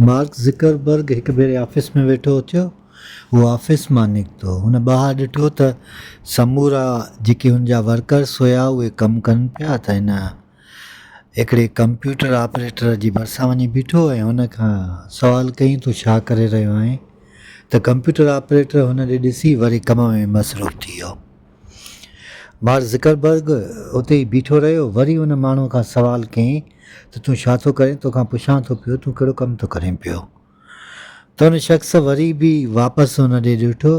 Mark Zuckerberg هڪ ڀيري office ۾ ويٺو اٿيو، هو آفيس مان نڪتو، هن ٻاهر ڏٺو ته سمورا جيڪي هن جا ورڪرس هيا اهي ڪم ڪن پيا ته هن هڪڙي ڪمپيوٽر آپريٽر جي ڀرسان وڃي بيٺو ۽ هن کان سوال ڪيائين تون ڇا ڪري رهيو آهين ته ڪمپيوٽر آپريٽر هن ڏي ڏسي وري ڪم ۾ مصروف ٿي ويو. مارڪ زڪربرگ اتي ئي بيٺو رهيو، وري ان ماڻهوء کان سوال ڪيائين ته تون ڇا ٿو ڪرين؟ توکان پڇان ٿو پيو تون ڪهڙو ڪم ٿو ڪرين پيو؟ ته ان شخص وري به واپس هن ڏي ڏٺو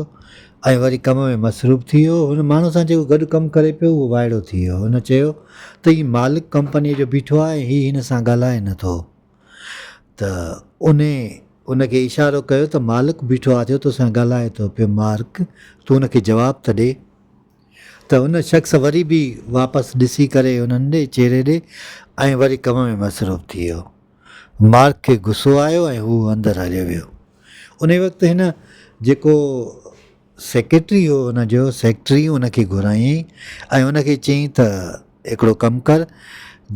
۽ وري ڪم ۾ مصروف ٿي ويو، هن ماڻهوء سان جيڪو گڏ ڪم ڪري پيو اهو وائڙو ٿي ويو، هن چيو ته هي مالڪ ڪمپنيء جو بيٺو آهي ۽ هي هن سان ڳالهائي نه ٿو. ته انهي ان کي اشارو ڪيو ته مالڪ بيٺو آ جو تو سان ڳالهائي ٿو پيو مارڪ تون ان کي جواب ته ڏي. ته ان شخص وري به واپس ڏسي ڪري انهن ڏي چهري ڏي ۽ وري ڪم ۾ مصروف ٿي ويو. مارڪ کي غصو آيو ۽ هو اندر هليو ويو. انهي وقت هن جيڪو سيڪريٽري هو ان جو، سيڪريٽري ان کي گهرايائين ۽ ان کي چيائين ته هڪڙو ڪم ڪر،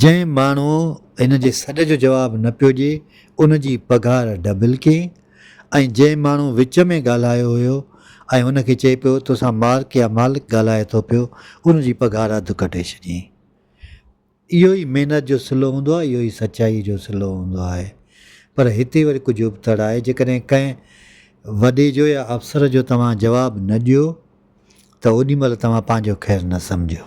جنهن ماڻهوء هن جي سڏ جو جواب نه پيو ڏئي، ان جي پگهار ڊبل ڪيئي ۽ جنهن ماڻهوء وچ ۾ ڳالهايو هيو ۽ هن کي چئي پيو توسان مارڪ يا مالڪ ڳالهائي ٿو پيو، ان جي پگهار اڌ ڪٽي ڇڏيائين. اهو ئي محنت جو صلو هوندو آهي، اهو ئي سچائيء جو صلو هوندو آهي. پر هتي وري ڪجهه ابتڙ آهي، جيڪڏهن ڪنهن وڏي جو يا افسر جو توهان جواب نه ڏيو ته اوڏي مهل توهان پنهنجو خير نه سمجهو.